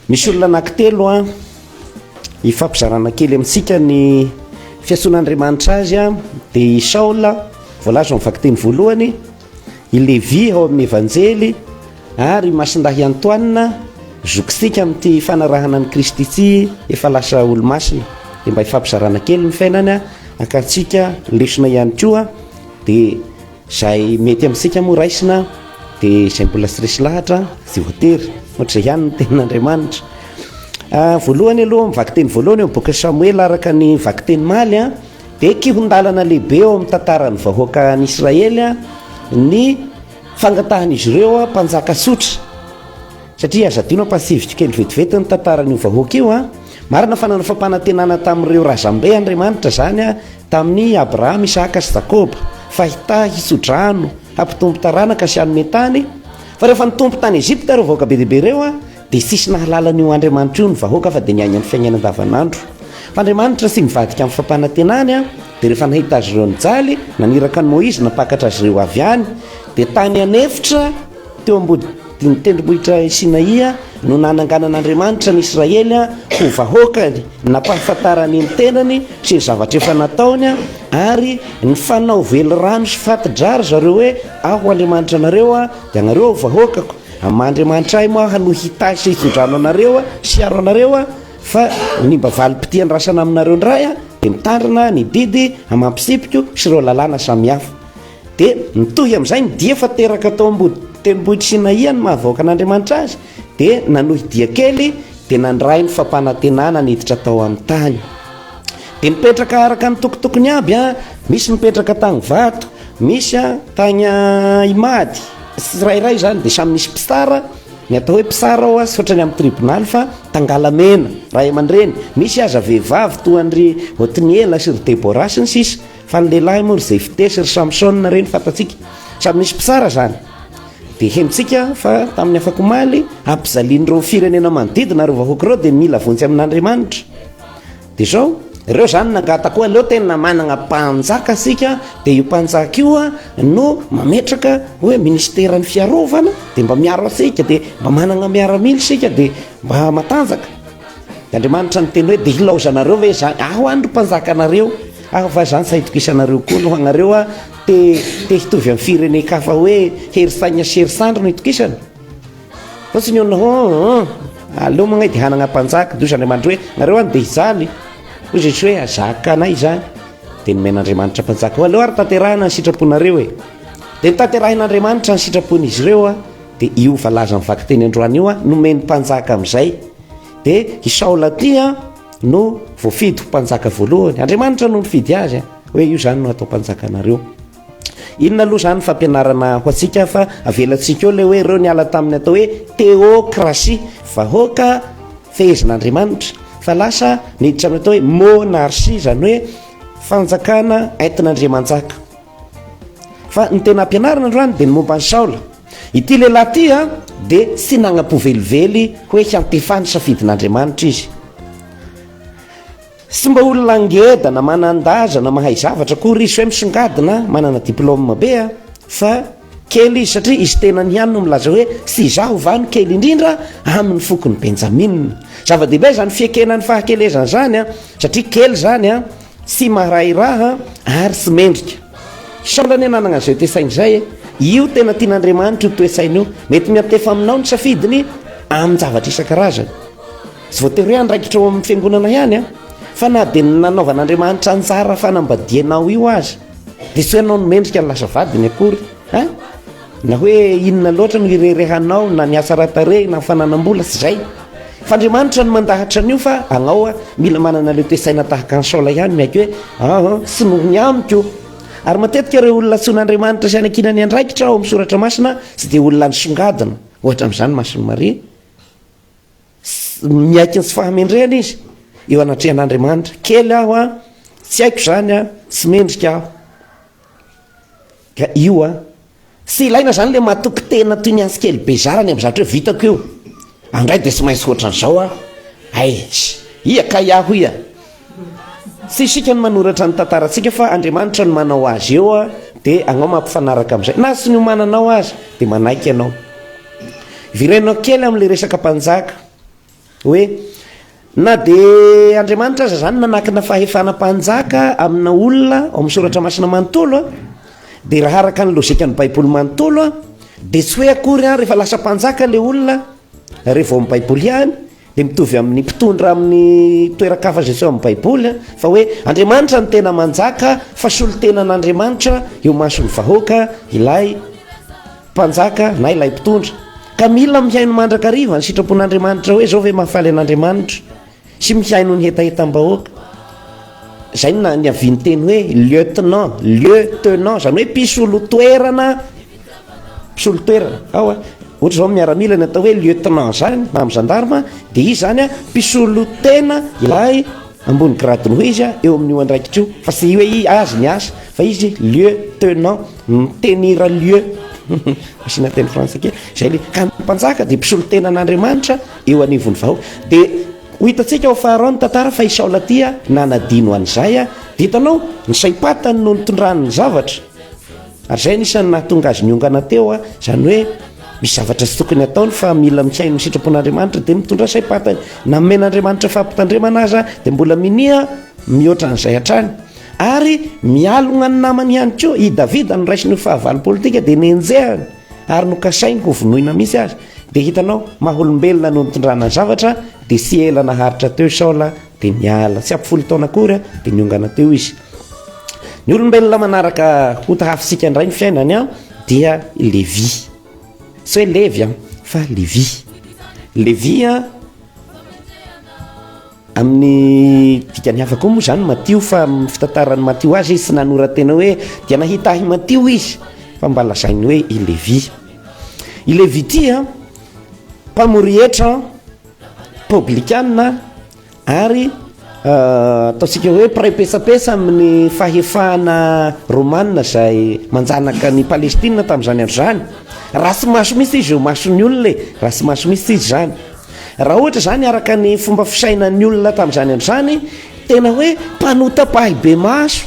Misy olona anankitelo an, hifampizarana kely amintsika ny fiantsoan'Andriamanitra azy an, dia i Saola voalaza ao amin'ny vakiteny voalohany, i Levy ao amin'ny Evanjely ary i Masindahy Antoine zokitsika amin'ity fanarahana an'i Kristy ity efa lasa olo-masina, dia mba hifampizarana kely ny fiainany an, hakantsika lesona ihany koa dia. Izay mety amintsika moa raisina dia izay mbola tsy resy lahatra tsy voatery, ohatr'izay ihany ny tenin'Andriamanitra. Ah, voalohany aloha amin'ny vakiteny voalohany eo amin'ny bokin'i Samoela araka ny vakiteny maly an, dia kihon-dalana lehibe eo amin'ny tantaran'ny vahoaka an'i Israely an, ny fangatahan'izy ireo an mpanjaka tsotra. Satria aza adino an, mpatsiviko kely vetivety ny tantaran'io vahoaka io an. Marina fa nanao fampanantenana tamin'ireo razambe Andriamanitra izany an, Tamin' i Abrahama, Isaaka sy Jakoba, fa hitahy, hitso-drano, hampitombo taranaka sy hanome tany, fa rehefa nitombo tany Egypta ireo vahoaka be dia be ireo dia tsisy nahalala an' io Andriamanitra io ny vahoaka fa dia niaina ny fiainana andavan' andro fa Andriamanitra tsy mivadika amin' ny fampanantenany dia rehefa nahita azy ireo nijaly naniraka an' i Moizy nampakatra azy ireo avy any dia tany an' efitra teo ambody Ny tendrombohitra Sinaia no nananganan'Andriamanitra ny Israely ho vahoakany, nampahafantarany ny tenany sy ny zavatra efa nataony, ary nifanao velirano sy fati-dra ry zareo hoe, Aho Andriamanitra anareo, dia ianareo ho vahoakako. Amin'ny maha Andriamanitra ahy moa aho no hitahy sy hitondrano anareo sy hiaro anareo, fa ny mba valim-pitia andrasana aminareo indray dia mitandrina ny didy amam-pitsipiko sy ireo lalàna samihafa. Dia mitohy amin'izay ny dia fa teraka tao am-body tendrombohitr'i Sinaia ny maha-vahoaka an'Andriamanitra azy, dia nanohy dia kely dia nandray ny fampanantenana niditra tao amin'ny tany. Dia nipetraka araka ny tokotokony aby, misy nipetraka tany vato, misy tany Imady, tsirairay izany dia samy nisy mpitsara, ny atao hoe mpitsara ao tsy ohatran'ny amin'ny tribonaly fa tangalamena, ray aman-dreny, misy aza vehivavy toa an-dry Otniela sy ry Debora sy ny sisa. Fa ny lehilahy moa ry Jefte sy ry Samson ireny fantatsika, samy nisy mpitsara izany. Dia henontsika fa tamin'ny afakomaly, hampijalian'ireo firenena manodidina ireo vahoaka ireo dia mila vonjy amin'Andriamanitra. Dia izao. Ireo izany nangata koa, aleo tena manana mpanjaka isika, dia io mpanjaka io no mametraka hoe minisiteran'ny fiarovana, dia mba miaro antsika, dia mba manana miaramila isika, dia mba matanjaka. Dia Andriamanitra niteny hoe, dia ilaozanareo ve izany? Aho any ry mpanjakanareo. Ary va zany sa itokisanareo koa no anareo a te te hitovy am firenen-kafa hoe hery saigna sy hery sandry no itokisana? Fa tsy ny olona hoe hum aleo magnay de hanagna mpanjaka de ozy Andriamanitra hoe nareo any de hijaly hoy Jesosy hoe azaka anay zany de nomen'Andriamanitra mpanjaka hoe aleo ary tanterahina ny sitraponareo e de notanterahin'Andriamanitra ny sitrapon'izy ireo a de io valaza mivakiteny androany io a nomeny mpanjaka amizay de i Saola ty a No voafidy ho mpanjaka voalohany. Andriamanitra no nifidy azy eh. hoe io zany no atao mpanjakanareo. Inona aloha zany fampianarana ho antsika fa avelantsika eo le hoe ireo niala tamin'ny atao hoe teokrasia, vahoaka fehezin'Andriamanitra fa lasa niditra amin'ny atao hoe monarchie, zany hoe fanjakana entin'Andriamanjaka. Fa ny tena ampianarina androany dia ny momba an'i Saola. Ity lehilahy ity dia tsy nanampo velively hoe hiantefa ny safidin'Andriamanitra izy. Tsy mba olona ngeda na manan-daza na mahay zavatra akory izy hoe misongadina, manana diplaoma be fa Kely izy satria izy tenany ihany no milaza hoe, Tsy izaho va no kely indrindra amin' ny fokon' i Benjamina? Zava-dehibe izany fiekena ny fahakelezana izany, satria kely izany, tsy marahiraha ary tsy mendrika. Sambany ianao nanana izay toe-tsaina izay e! Io tena tian' Andriamanitra io toe-tsaina io. Mety miantefa aminao ny safidiny amin'ny zavatra isan-karazany. Tsy voatery hoe andraikitra ao amin'ny Fiangonana ihany, fa na dia ny nanaovan' Andriamanitra anjara fanambadianao io aza. Dia tsy ianao no mendrika ny lasa vadiny akory an! Na hoe inona loatra no ireharehanao na ny hatsara-tarehy na ny fananam-bola, tsy izay. Fa Andriamanitra no mandahatra an'io fa anao mila manana ilay toe-tsaina tahaka an'i Saola ihany miaiky hoe an! tsy noho ny amiko. Ary matetika ireo olona antsoin'Andriamanitra sy hanankinany andraikitra ao amin'ny soratra masina tsy dia olona nisongadina, ohatra amin'izany Mason'i Maria. Tsy miaiky ny tsy fahamendrehana izy eo anatrehan'Andriamanitra. Kely aho an, tsy haiko izany an, tsy mendrika aho. Ka io an, tsy ilaina izany ilay matoky tena toy ny antsy kely bezara any amin'ny zavatra hoe vitako io, andray dia tsy maintsy hoatran'izao aho. Aish, ia kay aho ia. Tsy isika no manoratra ny tantarantsika fa Andriamanitra no manao azy eo dia anao mampifanaraka amin'izay. Na tsy niomananao aza dia manaiky ianao. Virainao kely amin'ilay resaka mpanjaka hoe na dia Andriamanitra aza izany nanakina fahefana mpanjaka amina olona ao amin'ny soratra masina manontolo dia raha araka ny lojikan'ny baiboly manontolo dia tsy hoe akory an rehefa lasa mpanjaka ilay olona rehefa ao amin'ny baiboly ihany dia mitovy amin'ny mpitondra amin'ny toeran-kafatra izay ao amin'ny Baiboly, fa hoe Andriamanitra no tena manjaka, fa solontenan'Andriamanitra eo imason'ny vahoaka ilay mpanjaka na ilay mpitondra, ka mila mihaino mandrakariva ny sitrapon'Andriamanitra hoe izao ve mahafaly an'Andriamanitra sy mihaino ny hetahetam-bahoaka. Izay no niavian'ny teny hoe lieutenant, lieu tenant, izany hoe mpisolo toerana. mpisolo toerana ao a, ohatra zao miaramila ny atao hoe lieutenant zany na amin'ny gendarme de izy zany a mpisolo tena ilay ambony grade noho izy a eo amin'io andraikitra io fa tsy hoe izy azy ny asa fa izy lieutenant mitenira lieu asiana teny frantsay kely zay le ka ny mpanjaka de mpisolo tena an'Andriamanitra eo anivon'ny vahoaka de ho hitantsika ho faharoa ny tantara fa i Saola ty a nanadino an'izay a de hitanao ny saim-patany no nitondrany ny zavatra Ary izay no isan'ny nahatonga azy niongana teo, izany hoe misy zavatra tsy tokony hataony fa mila misaina amin'ny sitrapon'Andriamanitra dia mitondra saim-pantany na nomen'Andriamanitra fampitandremana aza dia mbola minia mihoatra an'izay hatrany ary mialogna ny namany ihany koa. I Davida noraisiny ho fahavalo politika dia nenjehany ary nokasainy ho vonoina mihitsy aza. Dia hitanao, maha olombelona no nitondrana ny zavatra dia tsy ela naharitra teo i Saola Dia niala. Tsy ampy folo taona akory an, dia niongana teo izy. Ny olombelona manaraka ota hafitsika indray ny fiainany an, dia Levy. Tsy hoe Levy an, fa Levy. Levy an, amin'ny dikany hafa koa moa izany Matio fa amin'ny fitantaran'i Matio azy izy tsy nanora-tena hoe dia nahita ahy Matio izy fa mba lazainy hoe i Levy. I Levy ity an, mpamory hetra an, Pôblikanina ary ataontsika hoe mpiray petsapetsa amin'ny fahefana Rômana izay manjanaka an'i Palestina tamin'izany andro izany, raha tsy maso mihintsy izy eo mason'ny olona e, raha tsy maso mihintsy izy izany, raha ohatra izany araka ny fomba fisainan'ny olona tamin'izany andro izany tena hoe mpanota-pahibemaso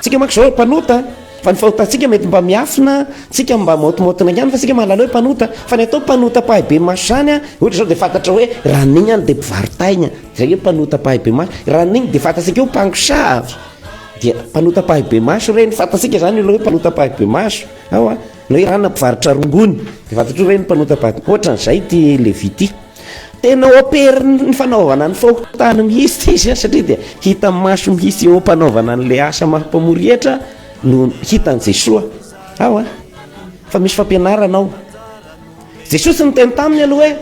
Tsika manko zao mpanota fa ny fahotantsika mety mba miafina tsika mba maotimaotina ihany fa tsika mahalala hoe mpanota fa ny atao mpanota pahay be maso zany a ohatra zao de fantatra hoe raha nigny any de mpivaritaigna zay hoe mpanota pahay be maso raha nigny de fantatsika eo mpangosaavy dia mpanota pahay be maso reny fantatsika zany olo hoe mpanota pahay be maso aoa na hoe rana mpivarotra rongony de fantatro reny mpanota pahay be maso ohatran'izay ty levity Tena operin'ny fanaovana ny fahotana mihitsy izy satria dia hita maso mihitsy eo am-panaovana an'ilay asa maha mpamory hetra no hitan'i Jesoa ao a fa misy fampianarana ao Jesoa tsy niteny taminy aloha hoe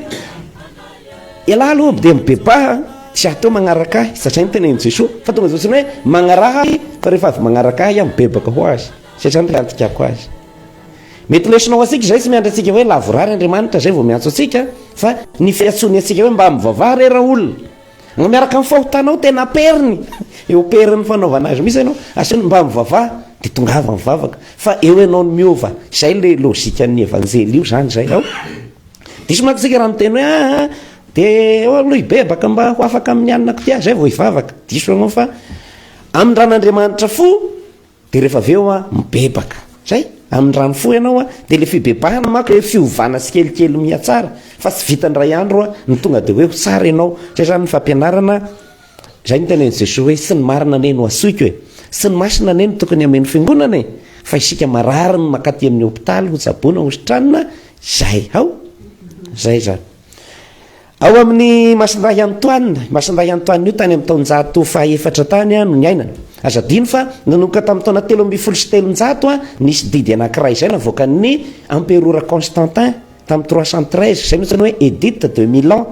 ialahy aloha dia mibebaha tsy ateo magnaraka ahy satria ny tenenin'i Jesoa fa tonga zao tsy hoe magnaraha ahy fa rehefa avy magnaraka ahy aho mibebaka ho azy satria ny fiantikako azy Mety lesona ho antsika izay tsy miandry antsika hoe lavorary Andriamanitra izay vao miantso antsika fa ny fiantsoany antsika hoe mba mivavaha re raolona na miaraka amin'ny fahotanao tena aperiny eo amperin'ny fanaovana azy mihitsy ianao asehony mba mivavaha dia tongava mivavaka fa eo ianao no miova izay ilay logikan'ny evanjely io izany izay ao diso manko isika raha miteny hoe aa ah, ah, dia eo aloha hibebaka mba ho afaka amin'ny anona kotia izay vao hivavaka diso ianao fa amin-dran'Andriamanitra fo Dia rehefa avy eo an, mibebaka. Zay. Amin'ny raha mifoha ianao an, dia ilay fibebahana manko ilay fiovana tsikelikely mihatsara, fa tsy vitan'ny iray andro an, no tonga dia hoe ho tsara ianao. Zay zany ny fampianarana. Zay no tenenin'i Jesoa hoe, tsy ny marina anie no hasoiko e. Tsy ny masina anie no tokony hameno fiangonana e. Fa isika marary no mankaty amin'ny hopitaly, hotsaboina, hositranina, zay. Hao? Zay zany. Ao amin'ny Masindahy Antoine, i Masindahy Antoine io tany amin'ny taonjato fahaefatra tany no niainana. Aza adino fa nanomboka tamin'ny taona telo ambin'ny folo sy telonjato nisy didy anankiray izay navoakan'ny Amperora Constantin tamin'ny trois cent treize, izay no antsoina hoe Edite de Milan,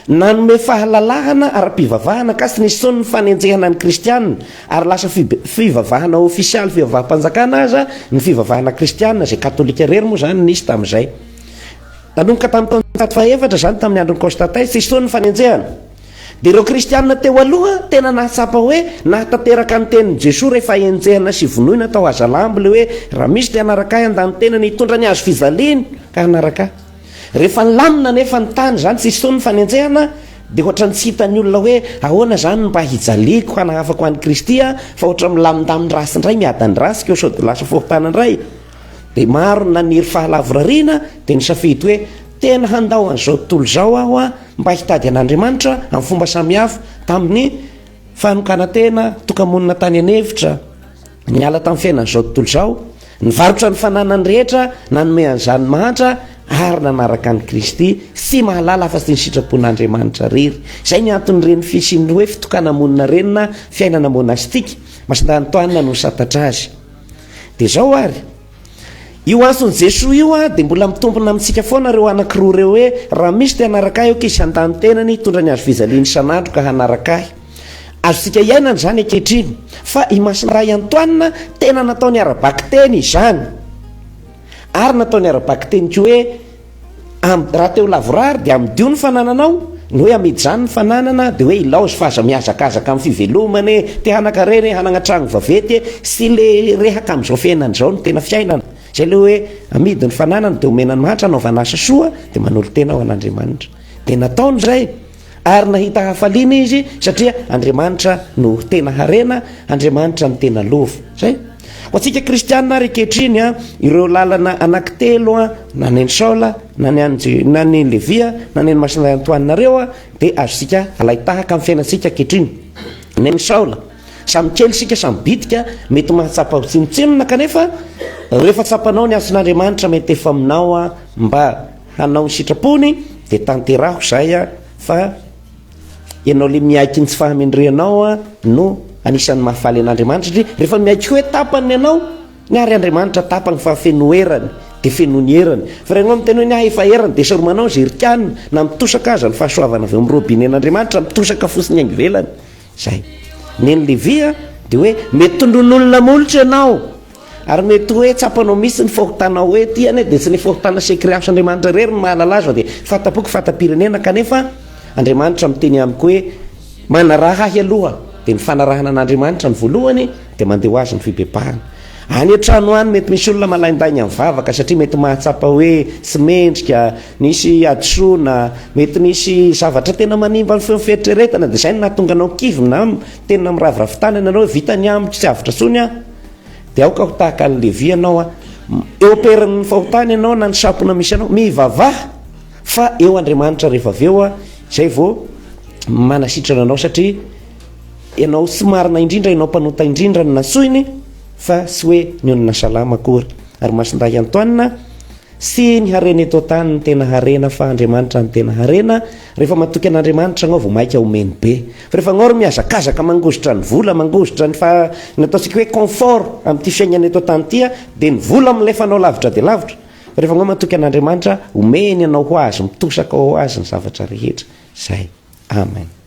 nanome fahalalahana ara-pivavahana ankasitry ny son'ny fanenjehana ny Kristiana, ary lasa fivavahana ofisialy fivavaham-panjakana aza ny fivavahana kristiana, izay katolika irery moa izany nisy tamin'izay. Nanomboka tamin'ny taonjato fahefatra izany tamin'ny andron'i Constantin sy Stone ny fanenjehana. Dia ireo kristiana teo aloha tena nahatsapa hoe nahatanteraka ny tenin'i Jesoa rehefa henjehina sy vonoina tao Hazalambo ilay hoe raha misy te hanaraka ahy handany tena ny hitondra ny hazo fijaliany ka hanaraka ahy. Rehefa nilamina anefa ny tany izany sy Stone ny fanenjehana dia ohatran'ny tsy hitan'ny olona hoe ahoana izany no mba hijaliako hanahafako an'i Kristy aho fa ohatran'ny milamindamin-drasy indray miadany ratsy koa sao dia lasa fokontany indray. Dia maro ny naniry fahalavorariana dia nisafidy hoe, Tena handao an'izao tontolo izao aho mba hitady an'Andriamanitra amin'ny fomba samihafa tamin'ny fanokanan-tena, toka-monina tany an-hevitra, niala tamin'ny fiainan'izao tontolo izao, nivarotra ny fananany rehetra nanome an'izany mahantra ary nanaraka an'i Kristy, tsy mahalala afa-tsy ny sitrapon'Andriamanitra irery. Izay ny anton'ireny fisian'ny hoe fitokana-monina ireny na fiainana monastika. Masindahy Antoine no nisantatra azy. Dia izao ary, io antson'i Jesoa io dia mbola mitombina amintsika foana ireo anaky roa ireo hoe, raha misy te hanaraka ahy ok izy handany tenany hitondra ny hazo fijaliany isan'andro ka hanaraka ahy. Azontsika iainana izany ankehitriny. Fa i Masindahy Antoine tena nataony ara-bakiteny izany. Ary nataony ara-bakiteny koa hoe, Am, raha te ho lavorary dia amidio ny fanananao, ny hoe amidy izany ny fananana dia hoe ilaozy fa aza mihazakazaka amin'ny fivelomana e, te hanan-karena e, hanana trano vaventy e, sy le rehaka amin'izao fiainana izao no tena fiainana, izay le hoe amidy ny fananana dia omena ny mahantra hanaovana asa soa dia manolo-tena ho an'Andriamanitra, dia nataony izay. ary nahita hafaliana izy satria Andriamanitra no tena harena, Andriamanitra no tena lova. Zay. Ho antsika kristianina ary ankehitriny a, ireo lalana anankitelo a, na ny an'i Saola, na ny an'i Je- na ny Levia, na ny an'i Masina Antoine nareo a, dia azontsika alain-tahaka amin'ny fiainantsika ankehitriny. Ny an'i Saola, samy kely isika, samy bitika, mety mahatsapa ho tsinontsinona kanefa rehefa tsapanao ny hasin'Andriamanitra mety efa aminao a, mba Hanao ny sitrapony de tanteraho zay a fa ianao le miaiky ny tsy fahamendrehanao a no anisan'ny mahafaly an'Andriamanitra satria rehefa miaiky hoe tapany ny anao ny ary Andriamanitra tapany fa feno erany de feno ny erany fa raha ianao miteny hoe ny ahy efa erany de saromanao zerik'anona na mitosaka aza ny fahasoavana avy ao amin'ny robinen'Andriamanitra mitosaka fotsiny any ivelany Zay. Neny Levi a, dia hoe mety tondroin'olona molotra ianao, ary mety hoe tsapanao mihitsy ny fahotanao hoe ity anie dia tsy ny fahotana sy ekreansy Andriamanitra irery no mahalala azy fa dia fahatampoko fatam-pirenena kanefa Andriamanitra miteny amiko hoe manaraha ahy aloha dia ny fanarahana an'Andriamanitra no voalohany dia mandeha ho azy ny fibebahana. Any an-trano any, mety misy olona malaindainga mivavaka satria mety mahatsapa hoe tsy mendrika, misy hadisoana, mety misy zavatra tena manimba ny feon'ny fieritreretana, dia izay no nahatonga anao kivy na miteny miraviravy tanana ianao hoe vita ny amiko, tsy avotra intsony aho. Dia aoka ho tahaka an'i Levy ianao an. Eo am-perin'ny fahotana ianao na ny sampona misy anao, mivavaha fa eo Andriamanitra rehefa avy eo izay vao manasitrana anao satria Ianao sy marina indrindra ianao mpanota indrindra no nasoiny fa sy hoe ny onona salama akory ary masindahy Antoine sy ny harena eto antany no tena harena fa Andriamanitra no tena harena rehefa matoky an'Andriamanitra anao vao maika omeny be fa rehefa anao ry mihazakazaka mangozitra ny vola mangozitra ny fa ny ataontsika hoe confort amin'ity fiainana eto antany ity dia ny vola milefa anao lavitra dia lavitra fa rehefa anao matoky an'Andriamanitra omeny anao ho azy mitosaka ho azy ny zavatra rehetra zay amen